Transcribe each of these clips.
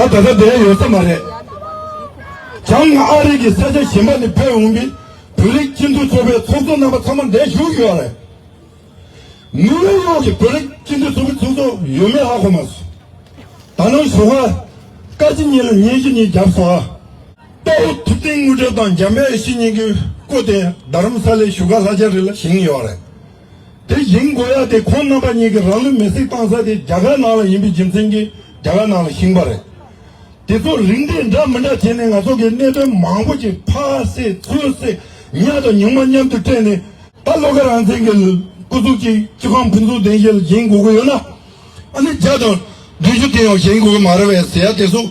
ད་ད་ལྟ་དེ་ཡོད་ས་མ་རེད། བྱང་ཨ་རིག་གི་ས་ཆ་གཞན་པ་ནས་བོད་འོངས་པའི་བོད་རིགས་སྤྱི་མཐུན་ཚོགས་པའི་ཚོགས་གཙོ་རྣམ་པ་ཚང་མ་འདས་བཞུགས་ཡོད་རེད། ནིའུ་ཡོག་ཡོག་གི་བོད་རིགས་སྤྱི་མཐུན་ཚོགས་པའི་ཚོགས་གཙོ་ཡོད་མེད་ཧ་གོ་མ་སོང། ད་ནངས་ཞོགས་ཀ་སྐར་གཅིག་གཉིས་ལ་ཉིན་བཞི་གཉིས་བརྒྱབ་སོང་ཨ། དཔའ་བོ་ཐུབ་བསྟན་དངོས་གྲུབ་དང་འཇམ་དཔལ་ཡེ་ཤེས་གཉིས་ཀྱི་སྐུ་དེ་རྡ་རམ་ས་ལའི་བཞུགས་སྒར་ལྷ་ལྕགས་རི་ལ་བཞེངས་ཡོད་རེད། དེ་བཞིན་མགོ་ཡ་དེ་ཁོང་རྣམ་པ་གཉིས་ཀྱི་རང་ལུས་མེ་བསྲེགས་བཏང་ས་དེ་རྒྱ་གར་ནང་ལ་ཡིན་པའི་རྒྱུ་མཚན་གྱིས་རྒྱ་གར་ནང་ལ་བཞིན་པ་རེད། དེ་ཚོ་རིགས་འདྲེས་འདྲ་མི་འདྲ་བྱས་ནས་ང་ཚོ་གི་གནད་དོན་མང་པོ་ཅིག་ཕ་བསད་ཚུལ་བསད་ཉག་དང་ཉུང་མ་མཉམ་དུ་སྤྲད་ནས། ད་ལོ་ཁ་རང་བཙན་གྱི་སྐུ་གཟུགས་ཀྱི་སྤྱི་ཁང་ཕུན་ཚོགས་ལྡན་ཞིག་ལ་བཞེངས་དགོས་ཀྱི་ཡོད་ན། ཨ་ནི་བརྒྱ་དང་བདུན་ཅུ་དེའང་བཞེངས་དགོས་ཀྱི་མ་རེད་བས་ཟེར་ཡ་དེ་སོགས།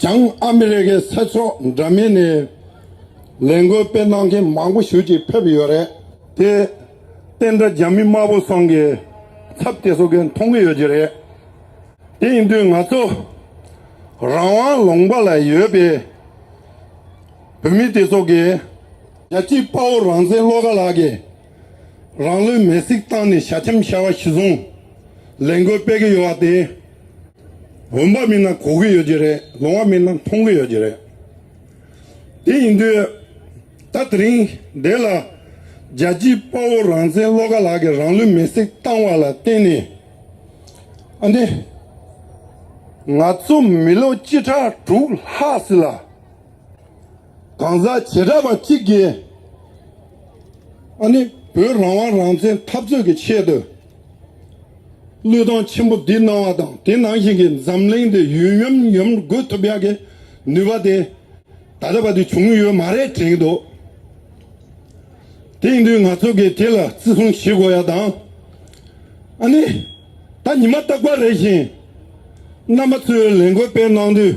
བྱང་ཨ་མི་རི་ཀའི་ས་ཕྱོགས་འདྲ་མིན་ནས་ལས་འགུལ་སྤེལ་གནང་མཁན་མང་པོ་ཞུ་ཅིག་ཕེབས་ཡོད་རེད། དེ་བསྟན་དགྲ་རྒྱ་མི་དམར་པོ་སོང་གི་ཚབ་སྐྱེ་བཟོ་མཁན་མཐོང་གི་ཡོད་ཀྱི་རེད། དེ་ཡིན་དུས་ང་ཚོ་རང་དབང་ལུང་པ་ལ་ཡོད་པའི་བོད་མི་དེ་ཚོ་གིས། རྒྱལ་གཅེས་དཔའ་བོ་རང་བཙན་བློ་དགའ་ལགས་ཀྱིས། རང་ལུས་མེར་སྲེག་བཏང་ནས་ཞྭ་ཁྱམས་ཤྭ་བ་ཞིག་བཟུང་ལས་འགུལ་སྤེལ་གྱི་ཡོད་པ་དེ། འོན་པ་མིན་ན་གོ་གི་ཡོད་ཀྱི་རེད་ལོང་བ་མིན་ན་མཐོང་གི་ཡོད་ཀྱི་རེད། དེ་ཡིན་དུས་ད་དེ་རིང་འདི་ལ་རྒྱལ་སྤྱིའི་དཔའ་བོ་རང་བཙན་བློ་དགའ་ལགས་ཀྱིས་རང་ལུས་མེར་སྲེག་བཏང་བ་ལ་བརྟེན་ནས། ཨ་ནེ། ང་ཚོ་མི་ལོ་བཅུ་ཕྲག་དྲུག་ལྷག་ཟིན་ལ། གང་ཟག་བྱེ་བྲག་པ་གཅིག་གིས་ཨ་ནི་བོད་རང་དབང་རང་བཙན་འཐབ་རྩོད་ཀྱི་ཆེད་དུ། བློས་བཏང་ཆེན་པོ་འདི་གནང་བ་དང་དེ་ནང་བཞིན་གྱི་འཛམ་གླིང་འདི་ཡུལ་ཡུམ་ཡུམ་འགོད་ཐུབ་ཡག་གི་ནུས་པ་དེ་ད་ལྟ་བར་དུ་བྱུང་ཡོད་མ་རེད་དྲན་གྱི་འདུག་དེང་དུས་ང་ཚོ་གིས་དེ་ལ་བརྩི་སྲུང་བྱེད་དགོས་ཡག་དང། ཨ་ནི་ད་ཉི་མ་རྟག་པར་རེ་བཞིན་རྣམ་པ་ཚོས་ལས་འགུལ་སྤེལ་གནང་དུས།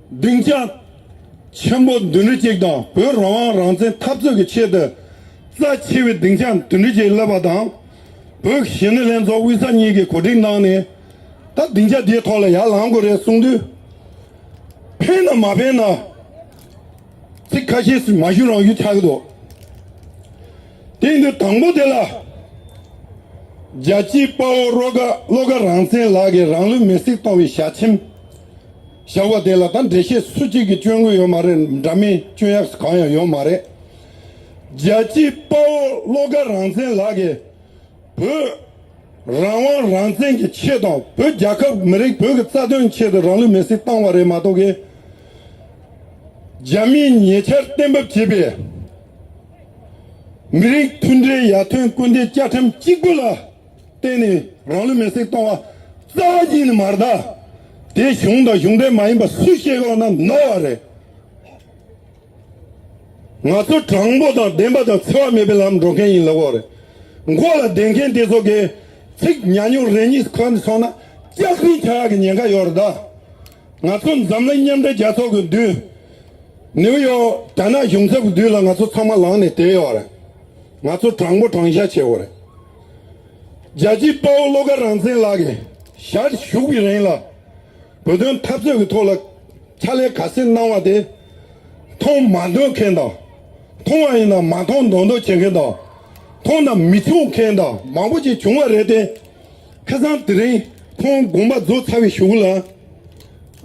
སྡིངས་ཆ་ཆེན་པོ་བདུན་ཁྲི་གཅིག་དང་བོད་རང་དབང་རང་བཙན་འཐབ་རྩོད་ཀྱི་ཆེད་དུ་རྩ་ཆེ་བའི་སྡིངས་ཆ་བདུན་ཁྲི་གཅིག་བསླེབས་པ་དང། བོད་གཞིས་ནུས་ལྷན་ཚོགས་དབུས་ས་གཉིས་ཀྱིས་གོ་སྒྲིག་གནང་ནས་ད་སྡིངས་ཆ་དེའི་ཐོག་ལ་ཡར་ལངས་དགོས་རེད་གསུངས་དུས། ཕན་ནམ་མ་ཕན་ན་ཚིག་ཁ་ཤས་སུ་མ་ཞུ་རང་ཞུ་ཆགས་ཀྱི་འདུག་དེ་ཡིན་དུས་དང་པོ་དེ་ལ། རྒྱལ་གཅེས་དཔའ་བོ་བློ་དགའ་རང་བཙན་ལགས་ཀྱིས་རང་ལུས་མེར་སྲེག་གཏོང་བའི་ཞལ་ཆེམས། བཞག་པ་དེ་ལ་ད་འགྲེལ་བཤད་སུ་གཅིག་གིས་བཅོས་དགོས་ཡོད་མ་རེད་འདྲ་མིན་བཅོས་ཡག་གང་ཡང་ཡོད་མ་རེད། རྒྱལ་གཅེས་དཔའ་བོ་བློ་དགའ་རང་བཙན་ལགས་ཀྱིས། བོད། རང་དབང་རང་བཙན་གྱི་ཆེད་དང་བོད་རྒྱལ་ཁབ་མི་རིགས་བོད་ཀྱི་རྩ་དོན་ཆེད་དུ་རང་ལུས་མེ་སྲེག་བཏང་བ་རེད་མ་གཏོགས་ཀྱི། རྒྱ་མིས་ཉེ་ཆར་གཏན་འབབ་བྱས་པའི། མི་རིགས་མཐུན་སྒྲིལ་ཡར་ཐོན་སྐུལ་འདེད་བཅའ་ཁྲིམས་གཅིག་པུ་ལ། བརྟེན་ནས་རང་ལུས་མེར་སྲེག་གཏོང་བ་རྩ་བ་ཉིད་ནས་མ་རེད། དེ་གཞུང་དང་གཞུང་འབྲེལ་མ་ཡིན་པ་སུས་བཤད་གི་ལོག་ན་ནོར་བ་རེད། ང་ཚོ་དྲང་པོ་དང་བདེན་པ་དང་འཚེ་བ་མེད་པའི་ལམ་འགྲོ་མཁན་ཡིན་ལོག་གོ་རེད། མགོ་ལ་བསྡད་མཁན་དེ་ཚོ་གིས་ཚིག་ཉག་ཉུང་རེ་གཉིས་ཁོ་ནས་སོང་ན་སྐྱག་རྫུན་བྱ་ཡག་གི་ཉེན་ཁ་ཡོད་རེད་ད། ང་ཚོ་འཛམ་གླིང་མཉམ་འབྲེལ་རྒྱལ་ཚོགས་ཀྱི་མདུན། ནིའུ་ཡོག་རྒྱ་ནག་གཞུང་ཚབ་ཀྱི་མདུན་ལ་ང་ཚོ་ཚང་མ་ལངས་ནས་བསྡད་ཡོད་རེད། ང་ཚོ་དྲང་པོ་དྲང་བཞག་བྱེད་གོ་རེད། རྒྱལ་གཅེས་དཔའ་བོ་བློ་དགའ་རང་བཙན་ལགས་ཀྱིས་ཞར་བཞུགས་པའི་རིང་ལ་བོད་དོན་འཐབ་རྩོད་ཀྱི་ཐོག་ལ་ཕྱག་ལས་ག་ཚད་གནང་བ་དེ་མཐོང་མ་འདོད་མཁན་དང། མཐོང་བ་ཡིན་ན་མ་མཐོང་མདོག་མདོག་བྱེད་མཁན་དང། མཐོང་དང་མི་མཐོང་མཁན་དང་མང་པོ་ཅིག་བྱུང་བ་རེད་དེ། ཁ་སང་དེ་རིང་ཁོང་དགོངས་པ་རྫོགས་ཚར་བའི་ཞུགས་ལ།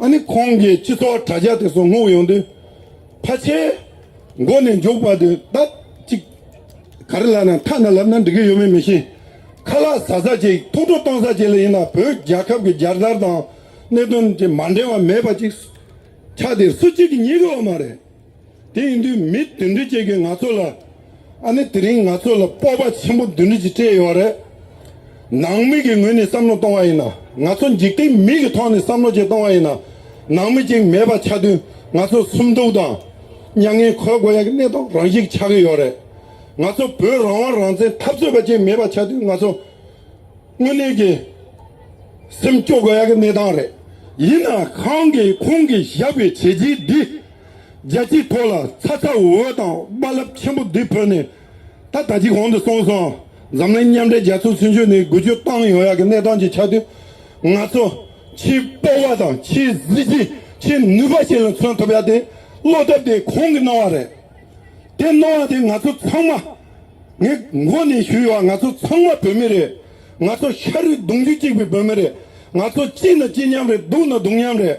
ཨ་ནི་ཁོང་གིས་སྤྱི་ཚོགས་དྲ་རྒྱ་དེ་སོ་སྔོག་ཡོང་དུས་ཕ་ཆེའི་མགོ་ནས་མཇུག་བར་དུ་ལྡབ་གཅིག་ག་རེ་ལབ་ན་ཁ་ན་ལབ་ན་འགྲིག་གི་ཡོད་མེད་མི་ཤེས། ཁ་ལག་ཟ་ཟ་ཅིག་ཐུགས་སྤྲོ་གཏོང་ས་ཅིག་ལ་ཡིན་ན་བོད་རྒྱལ་ཁབ་ཀྱི་རྒྱལ་དར་དང་གནད་དོན་གྱི་མ་འབྲེལ་བ་མེད་པ་ཅིག་ཆགས་དེ་སུ་གཅིག་གིས་ཉེས་གི་ཡོད་མ་རེད། དེ་ཡིན་དུས་མི་བདུན་འགྲིག་ཅིག་གིས་ང་ཚོ་ལ་ཨ་ནི་དེ་རིང་ང་ཚོ་ལ་སྤོབས་པ་ཆེན་པོ་བདུན་འགྲིག་ཅིག་སྤྲད་ཡོད་རེད། ནང་མི་གི་ངོས་ནས་བསམ་བློ་གཏོང་བ་ཡིན་ན་ང་ཚོ་འཇིག་རྟེན་མི་གི་ཐོག་ནས་བསམ་བློ་བཅས་གཏོང་བ་ཡིན་ན་ནང་མི་གཅིག་མེད་པ་ཆགས་དུས་ང་ཚོ་སུམ་སྡུག་དང། མྱ་ངན་གོས་དགོས་ཡག་གི་གནས་སྟངས་རང་ཞིག་ཆགས་ཀྱི་ཡོད་རེད། ང་ཚོ་བོད་རང་དབང་རང་བཙན་འཐབ་རྩོད་པ་བཅས་མེད་པ་ཆགས་དུས་ང་ཚོ་དངོས་གནས་ཀྱི་སེམས་སྐྱོ་དགོས་ཡག་གི་གནས་སྟངས་རེད། ཡིན་ན་གང་གིས་ཁོང་གིས་བཞག་པའི་བྱས་རྗེས་འདི་རྒྱལ་སྤྱིའི་ཐོག་ལ་ཚ་ཚ་འུར་འུར་དང་དཔའ་རླབས་ཆེན་པོ་འདི་བོད་ནས་ད་ལྟ་གྱི་གོང་དུ་སོང་སོང་འཛམ་གླིང་མཉམ་འབྲེལ་རྒྱལ་ཚོགས་ཚུན་ཆོད་ནས་དགུ་བཅུ་བཏང་ཡོང་ཡག་གི་གནས་སྟངས་ཀྱི་ཆ་དུས་ང་ཚོ་ཆེས་སྤོབས་བ་དང་ཆེས་གཟི་བརྗིད་ཆེས་ནུས་པ་ཞིག་ལ་མཚོན་ཐུབ་ཡག་དེ་བློ་སྟོབས་དེ་གོང་གི་སྣང་བ་རེད། དེ་སྣང་བ་དེ་ང་ཚོ་ཚང་མ་ངས་མགོ་ནས་ཞུས་ཡོད་ང་ཚོ་ཚང་མ་བོད་མི་རེད། ང་ཚོ་ཤ་རུས་གདུང་རྒྱུད་གཅིག་པའི་བོད་མི་རེད། ང་ཚོ་གཅིག་ན་གཅིག་མཉམ་རེད་སྡུག་ན་སྡུག་མཉམ་རེད།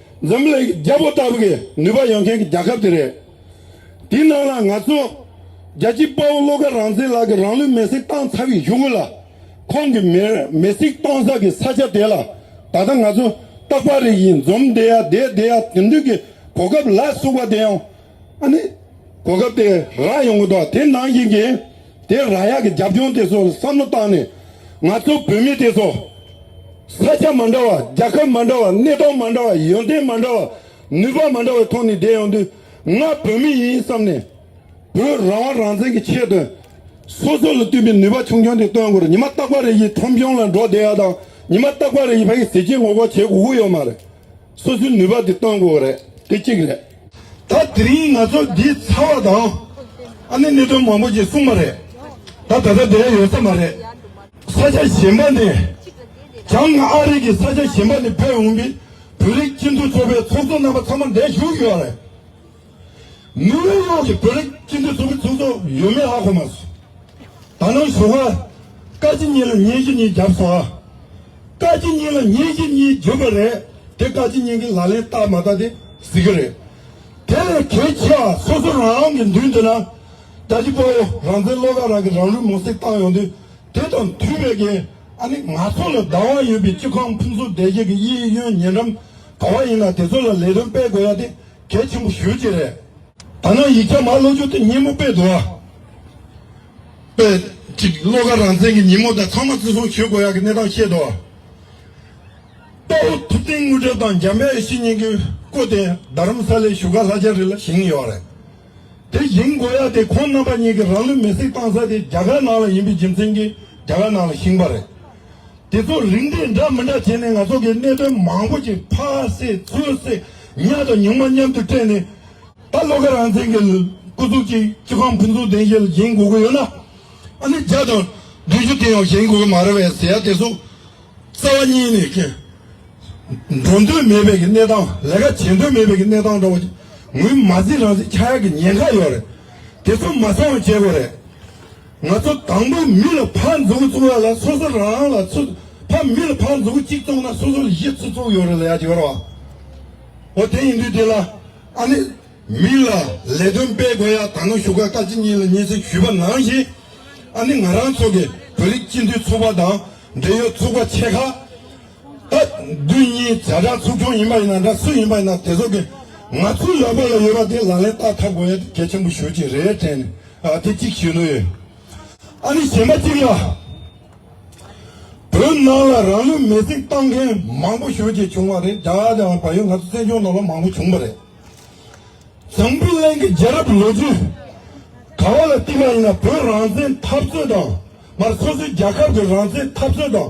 འཛམ་གླིང་གི་རྒྱ་བོད་ལྟ་བུ་གི་ནུས་པ་ཡོད་མཁན་གི་རྒྱ་ཁབ་དེ་རེད། དེའི་ནང་ལ་ང་ཚོ་རྒྱལ་སྤྱིའི་དཔའ་བོ་བློ་དགའ་རང་བཙན་ལགས་ཀྱི་རང་ལུས་མེ་སྲེག་བཏང་ཚར་བའི་གཞུག་གུ་ལ། ཁོང་གི་མེར་མེ་སྲེག་གཏོང་ས་གི་ས་ཆ་དེ་ལ་ད་ལྟ་ང་ཚོ་རྟག་པར་རིགས་ཡིན་འཛོམས་བསྡད་ཡ་བསྡད་བསྡད་ཡ་དེ་འདུག་གི་གོ་སྐབས་ལ་སུག་པ་དེ་ཡང་ཨ་ནི། གོ་སྐབས་དེ་རག་ཡོང་གི་འདུག་དེ་ནང་བཞིན་གྱི་དེ་རག་ཡག་གི་རྒྱབ་ལྗོངས་དེ་ཚོ་ལ་བསམ་བློ་བཏང་ནས། ང་ཚོ་བོད་མི་དེ་ཚོ། ས་ཆ་མ་འདྲ་བ་རྒྱལ་ཁབ་མ་འདྲ་བ་གནས་སྟངས་མ་འདྲ་བ་ཡོན་ཏན་མ་འདྲ་བ་ནུས་པ་མ་འདྲ་བའི་ཐོག་ནས་བསྡད་ཡོང་དུས། ང་བོད་མི་ཡིན་བསམ་ནས། བོད་རང་དབང་རང་བཙན་གྱི་ཆེད་དུ། སོ་སོ་ལ་བསྟུན་པའི་ནུས་པ་ཆུང་ཆུང་དེ་བཏོན་དགོས་རེད་ཉི་མ་རྟག་པར་རེ་ཡིས་ཁྲོམ་གཞུང་ལ་འགྲོ་བསྡད་ཡག་དང་ཉི་མ་རྟག་པར་རེ་ཡིས་ཕ་ཡི་ཟས་བཅད་ངོ་རྒོག་བྱེད་དགོས་ཀྱི་ཡོད་མ་རེད། སོ་སོའི་ནུས་པ་དེ་གཏོང་དགོས་པ་རེད་དེ་གཅིག་རེད། ད་དེ་རིང་ང་ཚོ་འདི་ཚར་བ་དང། ཨ་ནེ་གནད་དོན་མང་པོ་ཞིག་གསུངས་པ་རེད། ད་ད་ལྟ་དེ་འདྲ་ཡོད་ས་མ་རེད། ས་ཆ་གཞན་པ་ནས་ཀྱང་ཨ་རིག་གི་ས་ཆ་གཞན་པ་ནས་ཕེབས་འོངས་པའི་བོད་རིགས་སྤྱི་མཐུན་ཚོགས་པའི་ཚོགས་གཙོ་རྣམ་པ་ཚང་མ་འདས་བཞུགས་ཡོད་རེད། དངུལ་ལོར་གློག་གི་བོད་རིགས་སྤྱི་མཐུན་ཚོགས་པའི་ཚོགས་གཙོ་ཡོད་མེད་ཧ་གོ་མ་སོང། ད་ནངས་ཞོགས་ཁར། བཀའ་སྤྱི་གཉིས་ལ་ཉིན་བཞི་གཉིས་བརྒྱབ་སོང་ཨ། བཀའ་སྤྱི་གཉིས་ལ་ཉིན་བཞི་གཉིས་བརྒྱུད་པ་རེད་དེ་བཀའ་སྤྱི་གཉིས་ཀྱི་ལག་ལེན་བལྟ་མ་བལྟ་དེ་གཟིགས་ཀྱི་རེད། དེ་ལས་གལ་ཆེ་བ་སོ་སོ་རང་གི་མདུན་དུ་ན་རྒྱ་ཀྱི་དཔའ་བོ་རང་བཙན་བློ་དགའ་རང་གི་རང་ལུས་མོ་སྲེག་བཏང་ཡོང་དུས་དེ་དང་མཐུན་པའི་གེ་ཨ་ནི་ང་ཚོ་ལ་བདག་དབང་ཡོད་པའི་སྤྱི་ཁང་ཕུན་སུམ་བདེ་སྐྱིད་ཀྱི་གཡས་གཡོན་ཉེ་འགྲམ་ག་བ་ཡིན་ན་དེ་ཚོ་ལ་ལས་དོན་སྤེལ་དགོས་ཡ་དེ་གལ་ཆེན་པོ་ཞུ་རྒྱུ་རེད། ཐ་ན་ཡིག་ཆ་མ་ཀློག་རྒྱུ་དེ་ཉིན་མོ་དཔེ་དུ་བ་དཔེ་གཅིག་ཀློག་ཁར་རང་བཙན་གྱི་ཉིན་མོ་དང་ཚང་མ་བརྩི་སྲུང་ཞུ་དགོས་ཡག་གི་གནས་སྟངས་ཤེས་དུ་བ། དཔའ་བོ་ཐུབ་བསྟན་དངོས་གྲུབ་དང་འཇམ་དཔལ་ཡེ་ཤེས་གཉིས་ཀྱིས་བསྐོས་ཏེ་རྡ་རམ་ས་ལའི་བཞུགས་སྒར་ལྷ་རྒྱ་རི་ལ་བཞེངས་ཡོད་རེད། དེ་བཞེངས་དགོས་ཡག་དེ་ཁོང་རྣམ་པ་གཉིས་ཀྱིས་རང་ལུས་མེ་སྲེག་བཏང་ས་དེ་རྒྱ་གར་ནང་ལ་ཡིན་པའི་རྒྱུ་མཚན་གྱིས་རྒྱ་གར་ནང་ལ་བཞེངས་པ་རེད། དེ་ཚོ་རིགས་འདེད་འདྲ་མི་འདྲ་བྱས་ནས་ང་ཚོ་གི་གནད་དོན་མང་པོ་ཞིག་ཕ་སེ་ཚུ་སེ་ཉག་དང་ཉུང་མ་མཉམ་དུ་སྤྲད་ནས། ད་བློ་དགའ་རང་བཙན་གི་སྐུ་གཟུགས་ཀྱིས་སྤྱི་ཁང་ཕུན་ཚོགས་ལྡན་ཞིག་བཞེངས་དགོས་ཀྱི་ཡོད་ན། ཨ་ནི་བརྒྱ་དང་བདུན་ཅུ་དེ་ཡང་བཞེངས་དགོས་ཀྱི་མ་རེད་བས་ཟེར་ཡ་དེ་ཚོ་རྩ་བ་གཉིས་ནས་ཀྱི། འགྲོ་འདོད་མེད་པའི་གི་གནས་སྟངས་ལས་ཀ་བྱེད་འདོད་མེད་པའི་གི་གནས་སྟངས་འདྲ་བོ་ངུས་མ་ཟིན་རང་བཙན་ཆགས་ཡ་གི་ཉེན་ཁ་ཡོད་རེད། དེ་ཚོ་མ་སེང་བ་བྱེད་དགོས་རེད། ང་ཚོ་དང་པོ་མི་ལ་ཕར་འཛུགས་བཙུགས་ཡག་ལ་སོ་སོ་རང་རང་ལ་ཚུ་ཕ་མི་ལ་ཕར་འཛུགས་གཅིག་བཙུགས་ན་སོ་སོ་ལ་བཞི་ཚུ་བཙུགས་ཡོད་རེད་ལ་ཡག་གི་རེད་བ། འོ་དེ་ཡིན་དུས་དེ་ལ་ཨ་ནི་མི་ལ་ལས་དོན་སྤེལ་དགོས་ཡག་ད་ནང་བཞུགས་སྒར་བཀའ་སྤྱི་གཉིས་ལ་གཉིས་ཚིག་ཞུས་པ་ནང་བཞིན་ཨ་ནི་ང་རང་ཚོ་གི་བོད་རིགས་སྤྱི་འཐུས་ཚོགས་པ་དང་འབྲེལ་ཡོད་ཚོགས་པ་ཆེ་ཁག་ད་དུས་གཉིས་བྱ་བྲག་ཚུགས་སྐྱོང་ཡིན་པ་ཡིན་ན་འདྲ་སུ་ཡིན་པ་ཡིན་ན་དེ་ཚོ་གི་ང་ཚོའི་ལག་པ་ལ་ཡོད་པ་དེ་ལག་ལེན་བསྟར་ཐབས་དགོས་ཡ་དེ་གལ་ཆེན་པོ་ཞུ་ཅི་རེད་དྲན་ནས་དེ་གཅིག་ཞུ་ནུ་ཡོད་ཨ་ནི་གཞན་པ་གཅིག་ལ་བོད་ནང་ལ་རང་ལུས་མེ་བསྲེགས་བཏང་མཁན་མང་པོ་ཞུ་ཅི་བྱུང་བ་རེད་རྒྱ་གར་དང་བལ་ཡུལ་ང་ཚོ་བཙན་བྱོལ་ནང་ལ་མང་པོ་བྱུང་བ་རེད་ཛམ་བི་ལན་གི་རྒྱལ་རབས་ལོ་རྒྱུས་ག་བ་ལ་བལྟས་པ་ཡིན་ན་བོད་རང་བཙན་འཐབ་རྩོད་དང་མར་སོ་སོའི་རྒྱལ་ཁབ་གི་རང་བཙན་འཐབ་རྩོད་དང།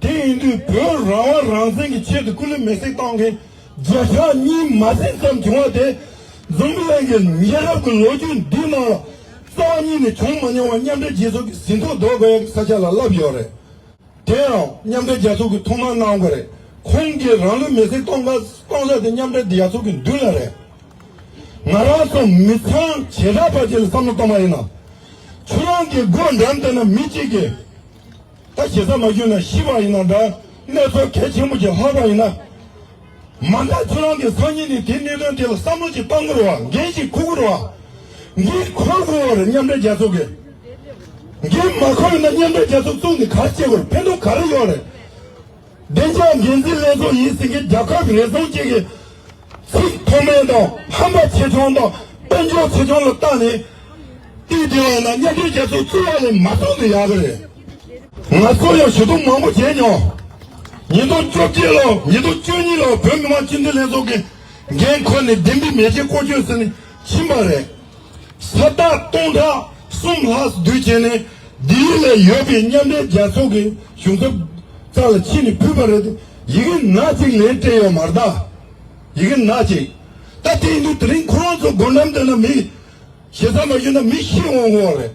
དེ་ཡིན་དུས་བོད་རང་དབང་རང་བཙན་གྱི་ཆེད་དུ་སྐུ་ལུས་མེ་བསྲེགས་བཏང་མཁན་རྗེས་ཆགས་གཉིས་མ་ཟིན་ཙམ་བྱུང་བ་དེ། འཛམ་གླིང་གི་ཉེ་རབས་ཀྱི་ལོ་རྒྱུས་འདིའི་ནང་ལ་རྩ་བ་གཉིས་ནས་བྱུང་མ་མྱོང་བ་མཉམ་འབྲེལ་རྒྱལ་ཚོགས་ཀྱི་ཟིན་ཐོ་འདོགས་དགོས་ཡག་གི་ས་ཆ་ལ་བསླབས་ཡོད་རེད། དེ་ཡང་མཉམ་འབྲེལ་རྒྱལ་ཚོགས་ཀྱིས་ཐོག་མར་གནང་དགོས་རེད། ཁོང་གིས་རང་ལུས་མེ་བསྲེགས་གཏོང་གཏོང་ས་དེ་མཉམ་འབྲེལ་རྒྱལ་ཚོགས་ཀྱི་མདུན་ལ་རེད། ང་རང་སོགས་མི་ཚང་བྱེ་བྲག་པ་ཅིག་ལ་བསམ་བློ་གཏོང་པ་ཡིན་ན། ཆུ་རང་གི་སྒོ་འགྲམ་དེ་ན་མི་གཅིག་གིས། ད་ཇི་ཙམ་མ་གྱུར་ན་ཤི་བ་ཡིན་ན་འདྲ། ནེ་ཙོ་གལ་ཆེན་པོ་ཞིག་ལྷག་པ་ཡིན་ན། མ་མཐའ་ཁྱོད་རང་གི་སང་ཉིན་ནས་དེ་གནད་དོན་དེ་ལ་བསམ་བློ་ཞིག་གཏང་དགོས་རུ་བ་འགན་ཞིག་འཁུར་དགོས་རུ་བ། འདི་འཁུར་དགོས་བ་རེད་མཉམ་འབྲེལ་རྒྱལ་ཚོགས་ཀྱི། འདི་མ་འཁུར་ན་མཉམ་འབྲེལ་རྒྱལ་ཚོགས་བཙུགས་ནས་ག་རེ་བྱེད་དགོས་རེད་ཕན་ཐོག་ག་རེ་ཡོད་རེད། བདེ་འཇགས་འགན་འཛིན་ལས་ཁུངས་ཡིན་ཟིན་གྱི་རྒྱལ་ཁབ་རེ་ཟུང་གཅིག་གིས་ཚིག་མཐོ་དམན་དང་ཧམ་པ་ཆེ་ཆུང་དང་དཔལ་འབྱོར་ཆེ་ཆུང་ལ་བརྟག་ནས། དུས་དེ་བས་ན་མཉམ་འབྲེལ་རྒྱལ་ཚོགས་བཙུགས་ཡ་ལས་མ་བཙུགས་འདི་ཡག་གི་རེད། ང་ཚོ་ཡང་ཞུ་གཏུག་མང་པོ་བྱས་མྱོང། ཉིས་སྟོང་བཅོ་བརྒྱད་ལོར་ཉིས་སྟོང་བཅུ་གཉིས་ལོར་བོད་མི་མང་སྤྱི་འཐུས་ལྷན་ཚོགས་ཀྱི་འགན་ཁུར་ནས་བདེན་པའི་མེ་ལྕེ་བཀོལ་སྤྱོད་ཟིན་ནས་ཕྱིན་པ་རེད། ས་རྟགས་སྟོང་ཕྲག་གསུམ་ལྷག་བསྡུས་རྗེས་ནས་འདིའི་ལས་ཡོད་པའི་མཉམ་འབྲེལ་རྒྱལ་ཚོགས་ཀྱི་གཞུང་ཚབ་ཙག་ལ་ཕྱིན་ནས་ཕུལ་བ་རེད་དེ། ཡི་གེ་ནག་ཅིག་ལན་སྤྲད་ཡོད་མ་རེད། ཡི་གེ་ནག་ཅིག་ད་བསྟན་འདུག་དེ་རིང་ཁོ་རང་ཚོ་སྒོ་འགྲམ་དེ་ན་མི་ཞེ་ས་མ་ཞུས་ན་མི་ཤི་འོང་འོང་བ་རེད།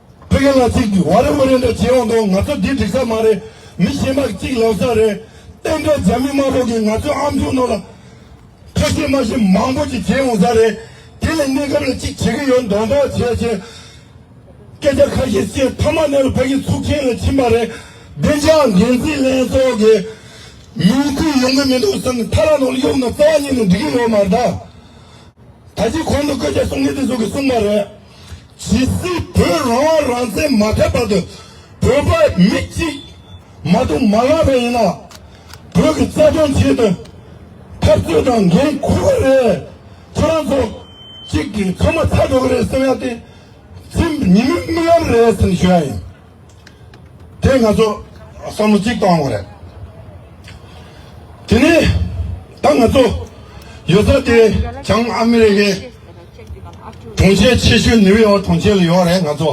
ཕ་གི་ལག་ཚིག་འདི་བ་རེ་མོ་རེ་འདྲ་བྱེད་འོང་དོ་ང་ཚོ་འདི་འགྲིག་ས་མ་རེད་མི་ཞེན་པ་གཅིག་ལོག་ས་རེད་བསྟན་འགྲོ་རྒྱ་མི་དམར་པོ་གི་ང་ཚོའི་ཨམ་ཆུང་ནོར་ལ་ཁ་ཞེ་མ་ཞེ་མང་པོ་གཅིག་བྱེད་འོང་ས་རེད་དེ་ལས་གནས་སྐབས་ལ་གཅིག་བྱེད་གི་ཡོད་མདོག་མདོག་བྱས་བྱས་སྐད་ཆ་ཁ་ཤས་བཤད་མཐའ་མ་ནས་ལ་ཕ་གི་ཚུགས་ཆེན་ལ་ཕྱིན་པ་རེད་བདེ་འཇགས་འགན་འཛིན་ལན་སོགས་ཀྱི་མིང་ཁུར་ཡོང་གི་མི་འདུག་བསམ་ནས་མཐའ་ར་ནོར་གཡུག་ན་རྩ་བ་ཉིད་ནས་འགྲིག་གི་ཡོད་མ་རེད་ད། ད་ཅིག་གོང་དུ་སྐད་ཆ་གསུང་མཁན་དེ་ཚོ་གི་གསུང་པ་རེད། ཇི་སྲིད་བོད་རང་དབང་རང་བཙན་མ་ཐོབ་བར་དུ་བོད་པ་མི་གཅིག་མ་གཏོགས་མ་བསླངས་པ་ཡིན་ན། བོད་ཀྱི་རྩ་དོན་ཆེད་དུ་འཐབ་རྩོད་དང་འགན་འཁུར་བ་རེད། ཁྱོད་རང་ཚོ་གཅིག་གིས་ཚང་མ་ཚར་འགྲོ་གི་རེད་བསམ་ཡ་དེ། ཚིམ་ཉི་མའི་རྨི་ལམ་རེད་བསམ་ཞུ་ཡ་ཡིན། དེ་ང་ཚོ་བསམ་བློ་གཅིག་གཏོང་དགོས་རེད། དེ་ནས་ད་ང་ཚོ་ཡོད་ས་དེ་བྱང་ཨ་མི་རི་ཀའི་གྲོང་ཁྱེར་ཆེ་ཤོས་ནིའུ་ཡོག་གྲོང་ཁྱེར་ལ་ཡོད་རེད་ང་ཚོ།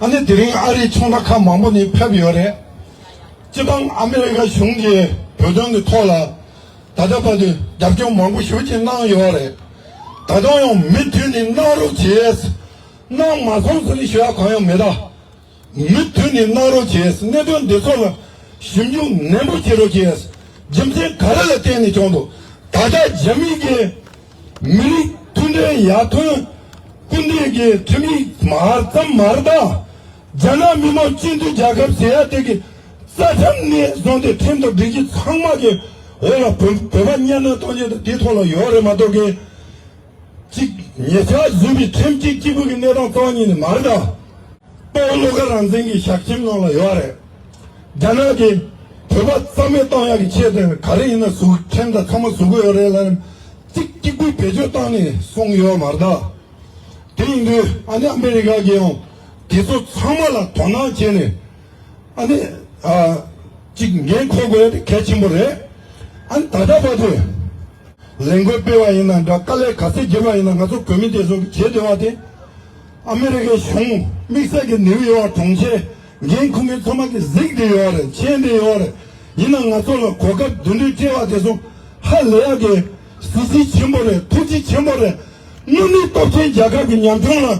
ཨ་ནི་དེ་རིང་ཨ་རིའི་ཚོང་ར་ཁག་མང་པོ་ནས་ཕེབས་ཡོད་རེད། སྤྱི་བྱང་ཨ་མི་རི་ཀ་གཞུང་གིས་བོད་དོན་གྱི་ཐོག་ལ་ད་ལྟ་བར་དུ་རྒྱབ་སྐྱོར་མང་པོ་ཞུ་བཞིན་གནང་ཡོད་རེད། ད་དུང་ཡང་མུ་མཐུད་ནས་གནང་རོགས་བྱེད། སྣང་མ་བཟུང་ཟེར་བའི་བྱ་བ་གང་ཡང་མེད། མུ་མཐུད་ནས་གནང་རོགས་བྱས། གནད་དོན་འདི་ཚོ་ལ་ཞིབ་འཇུག་ནན་པོ་བྱེད་རོགས་བྱས། རྒྱུ་མཚན་ག་རེ་ལ་བརྟེན་ནས་བྱུང་འདུག་ད་ཆ་རྒྱ་མི་སྒེར། མི་རིགས་མཐུན་སྒྲིལ་ཡར་ཐོན། སྐུ་འདས་སྒེར་ཁྲིམས་ཡིག་མར་ཙམ་མ་རེད་ད། རྒྱ་ནག་མི་མང་སྤྱི་འཐུས་རྒྱ་ཁབ་ཟེར་ཡ་དེ་གི་རྩ་ཁྲིམས་ནས་བཟུང་སྟེ་ཁྲིམས་ཐོག་སྒྲིག་གཞི་ཚང་མ་གི་འོག་ལ་བོད་པ་གཉའ་གནོན་གཏོང་བྱེད་དང་དེ་ཐོག་ལ་ཡོད་རེད་མ་གཏོགས་གི། གཅིག། ཉེ་ཆར་བཟོས་པའི་ཁྲིམས་གཅོད་སྐྱིད་པོ་གི་གནས་སྟངས་སྟོང་ཉིད་ནི་མ་རེད། དཔའ་བོ་བློ་དགའ་རང་བཙན་གྱི་ཞག་ཁྱིམ་ནང་ལ་ཡོད་རེད། རྒྱ་ནག་གིས་བོད་པ་རྩ་མེད་གཏོང་ཡག་གི་ཆེད་དུ་ག་རེ་ཡིན་ན་བཟོ་ཁྲིམས་དང་ཚང་མ་བཟོ་གི་ཡོད་རེད་ལ། གཅིག་སྐྱིད་པོའི་བེད་སྤྱོད་བཏང་ནས་སོང་གི་ཡོད་མ་རེད། དེ་ཡིན་དུས་ཨ་ནི་ཨ་མི་རི་ཀ་གིས་ཡང་དེ་ཚོ་ཚང་མ་ལ་དོ་སྣང་བྱས་ནས་ཨ་ནི། གཅིག་འགན་འཁུར་དགོས་དེ་གལ་ཆེན་པོ་རེད། ཨ་ནི་ད་ལྟ་བར་དུ་ལས་འགུལ་སྤེལ་བ་ཡིན་ན་འདྲ་དཀའ་ལས་ག་ཚད་རྒྱས་པ་ཡིན་ན་ང་ཚོ་བོད་མི་དེ་ཚོ་གི་བྱེད་འདོད་པ་དེ་ཨ་མི་རི་ཀའི་གཞུང་དམིགས་བསལ་གི་ནིའུ་ཡོག་གྲོང་ཁྱེར་འགན་འཁུར་མཁན་ཚང་མ་གི་གཟིགས་འདི་ཡོད་རེད་མཁྱེན་འདི་ཡོད་རེད་ཡིན་ན་ང་ཚོ་ལ་གོ་སྐབས་བདུད་འདུལ་སྤྲེལ་བ་དེ་ཚོ་ཧ་ལས་ཡག་གི་གཟི་བརྗིད་ཆེན་པོ་རེད་ཐུགས་རྗེ་ཆེན་པོ་རེད་དངོས་གནས་སྟོབས་ཆེན་རྒྱལ་ཁབ་གི་ཉམས་ཆུང་ལ།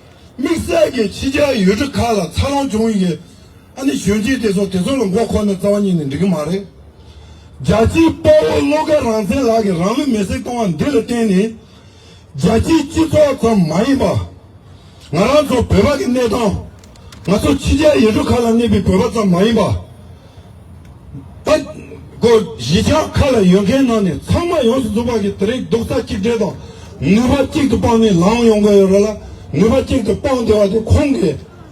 དམིགས་བསལ་གྱིས་ཕྱི་རྒྱལ་ཡུལ་གྲུ་ཁག་ལ་འཚར་ལོངས་བྱུང་ཡོད། ཨ་ནི་གཞོན་སྐྱེས་དེ་ཚོ་དེ་ཚོ་ལ་མགོ་འཁོར་ནས་རྩ་བ་ཉིད་ནས་འགྲིག་གི་མ་རེད། རྒྱལ་སྤྱིའི་དཔའ་བོ་བློ་དགའ་རང་བཙན་ལགས་ཀྱིས་རང་ལུས་མེ་སྲེག་གཏོང་བ་འདི་ལ་བརྟེན་ནས། རྒྱལ་སྤྱིའི་སྤྱི་ཚོགས་ཙམ་མ་ཡིན་པར། ང་རང་ཚོ་བོད་པ་གི་གནས་སྟངས། ང་ཚོ་ཕྱི་རྒྱལ་ཡུལ་གྲུ་ཁག་ལ་གནས་པའི་བོད་པ་ཙམ་མ་ཡིན་པར། སྟེ། སྒོ་བཞི་ཆ་ཁ་ལ་ཡོད་མཁན་ནང་ནས་ཚང་མ་ཡོངས་སུ་རྫོགས་པ་ཞིག་དེ་རིང་རྡོག་རྩ་གཅིག་སྒྲིལ་དང་ནུས་པ་གཅིག་ཏུ་སྤངས་ནས་ལངས་ཡོང་དགོས་ཡོད་རེད་ལ་ནུས་པ་གཅིག་ཏུ་སྤངས་བདེ་བ་དེ་ཁོང་གི་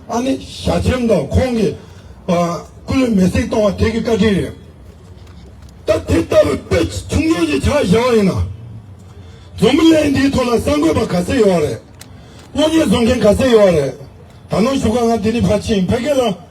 ཨ་ནེ་ཞྭ་ཆེམ་དང་ཁོང་གི་སྐུ་ལུས་མེ་བསྲེགས་གཏོང་བ་དེ་གི་བཀའ་དྲིན་རེད། ད་དེ་ལྟ་བུའི་དཔེ་ཆུང་ཆུང་ཞིག་ཆགས་བཞག་པ་ཡིན་ན། རྫོང་མི་ལས་འདིའི་ཐོག་ལ་གསར་འགོད་པ་ག་ཚད་ཡོད་པ་རེད། གློག་བརྙན་བཟོ་མཁན་ག་ཚད་ཡོད་པ་རེད། ད་ནོར་ཞུ་སྐབས་ང་དེ་རིང་ཕར་ཕྱིན་ཕལ་སྐད་ལ།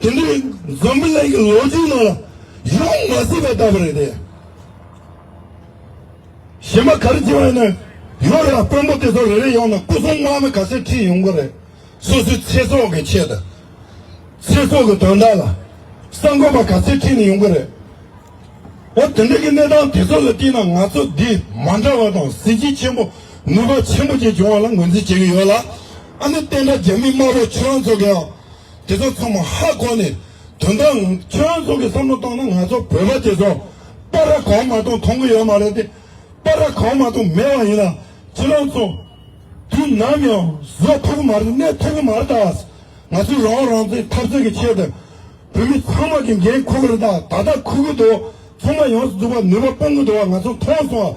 དེ་འདྲའི་འཛམ་བུ་གླིང་གི་ལོ་རྒྱུས་ནང་ལ་ཡོང་མ་སྲིད་པ་ལྟ་བུ་རེད་དེ། གཞན་པ་ག་རེ་བྱས་པ་ཡིན་ན་ཡོད་རེད་ཨ་དཔོན་པོ་དེ་ཚོ་རེ་རེ་ཡོང་ན་སྐུ་སྲུང་དམག་མི་ག་ཚོད་ཁྲིད་ཡོང་གི་རེད། སོ་སོའི་ཚེ་སྲོག་གི་ཆེད་དུ། ཚེ་སྲོག་གི་དོན་དག་ལ་གསར་འགོད་པ་ག་ཚོད་ཁྲིད་ནས་ཡོང་གི་རེད། འོ་དེ་འདྲའི་གི་གནས་སྟངས་དེ་ཚོ་ལ་བལྟས་ན་ང་ཚོ་འདི་མ་འདྲ་བ་དང་གཟི་བརྗིད་ཆེན་པོ་ནུས་པ་ཆེན་པོ་བཅས་བྱུང་བ་ལ་ངོས་འཛིན་བྱེད་ཀྱི་ཡོད་ལ། ཨ་ནི་བསྟན་དགྲ་རྒྱ་མི་དམར་པོ་ཁྱོད་རང་ཚོ་གིའང་དེ་ཚོ་ཚང་མ་ཧ་གོ་ནས་དོན་དག་ཁྱོད་ཚོ་གི་བསམ་བློ་གཏོང་ན་ང་ཚོ་བོད་པ་དེ་ཚོ་པ་ར་གང་མ་གཏོང་མཐོང་གི་ཡོད་མ་རེད་དེ། པ་ར་གང་མ་གཏོང་མེད་བ་ཡིན་ན་ཁྱེད་རང་ཚོ་དུས་ནམ་ཡང་བཟོད་ཐུབ་གི་མ་རེད་གནས་ཐུབ་གི་མ་རེད་ད། ང་ཚོས་རང་དབང་རང་བཙན་འཐབ་རྩོད་ཀྱི་ཆེད་དུ་བོད་མི་ཚང་མ་གི་འགན་ཁུར་གི་རེད་ད་ད་ལྟ་ཁུར་གི་འདུག་ཚོང་པ་ཡོངས་སུ་འཛུགས་པར་ནུས་པ་སྤུངས་གི་འདུག་བ་ང་ཚོ་མཐོང་སོང་བ